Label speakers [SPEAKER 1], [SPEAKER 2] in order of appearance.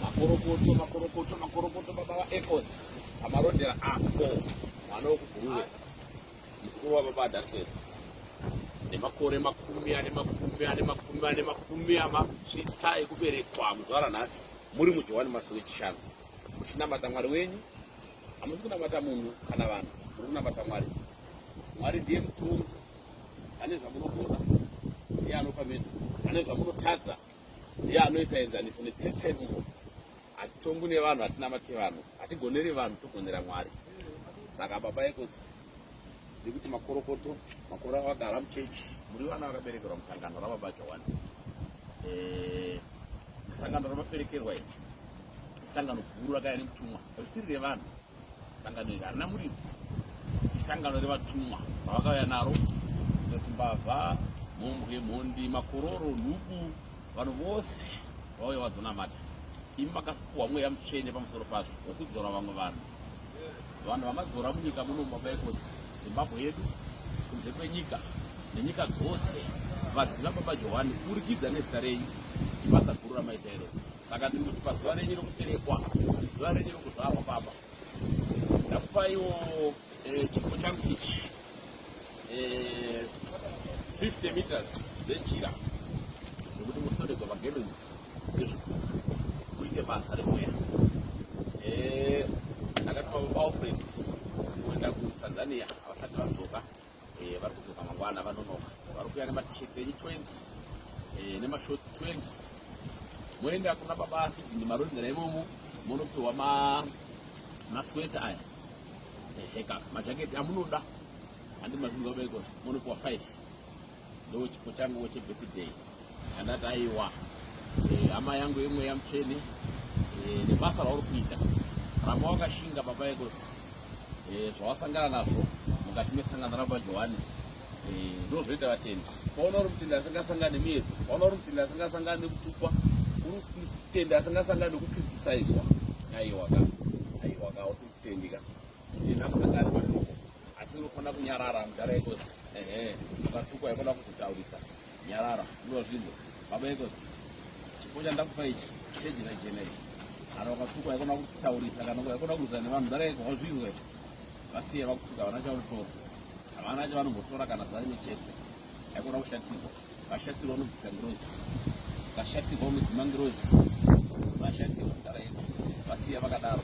[SPEAKER 1] makorokoto makorokoto makorokoto baba vaecos amarondera apo mwana wekubhuruwe mukuru wababa adaswes nemakore makumi ane makumi ane makumi ane makumi amasvitsa ekuberekwa muzuva ranhasi muri mujohwani masuku echishanu muchinamata mwari wenyu hamusi kunamata munhu kana vanhu muri kunamata mwari mwari ndiye mutongi ane zvamunogona ndiye anopa menhu ane zvamunotadza ndiye anoisa enzaniso netsetsemuko hatitongwi nevanhu hatinamate vanhu hatigoneri vanhu togonera mwari saka baba ekosi nekuti makorokoto makore avagara muchechi muri vana vakaberekerwa musangano rababa jawani eh, sangano ramaperekerwa iri isangano guru rakaya nemutumwa risiri revanhu sangano iri harina muridzi isangano revatumwa vavakauya naro inoti mbavha mhombwe mhondi makororo nhubu vanhu vose vauya vazonamata imi makapuwa mweya mutsvene pamusoro pazvo wokudzora vamwe vanhu vanhu vamadzora munyika muno mabaikosi zimbabwe yedu kunze kwenyika nenyika dzose vaziva baba johani kurikidza nezita renyu ibasa guru ramaita iroo saka ndiri kuti pazuva renyu rokuberekwa zuva renyu rokuzvarwa baba ndakupaiwo eh, chipo changu ichi 50 eh, meters dzenjira nekuti musodegwa magemens ezvikuru kuite basa remweya eh, ndakatuma baba alfred kuenda kutanzania havasati vadzoka eh, vari kudzoka mangwana vanonoka vari kuya nematisheti enyu 20 eh, nemashotsi 20 moenda kuna baba asidhini marondera imomo monopiwa masweta aya eheka majaketi amunoda handi mazvinhu vabaikosi monopiwa 5 ndo chipo changu chebirthday chandati aiwa eh, hama yangu imwe yamutsvene eh, nebasa rauri kuita ramba wakashinga baba ekos eh, zvawasangana nazvo mukati mesangano ramba johani ndozvoita vatendi paona uri mutendi asingasangani miedzo paona uri mutendi asingasangani nekutukwa uri mutendi asingasangani nekukritisaizwa aiwa ka aiwa ka usi mutendi ka mutendi akusangani mashoko asi unofanira kunyarara mudhara ekosi ehe akatukwa aifana kukutaurisa nyarara ndiwa zvinhu baba ekosi chipo chandakupa ichi chejena jena ichi kana wakatukwa aifana kutaurisa kana aifana kuudzana nevanhu mudhara eko wazvinzwa ichi vasiye vakutuka havana chavanotora havana chavanombotora kana zvaine chete aifana kushatirwa vashatirwa unobvisa ngirozi vashatirwa unodzima ngirozi vashatirwa mudhara eko vasiya vakadaro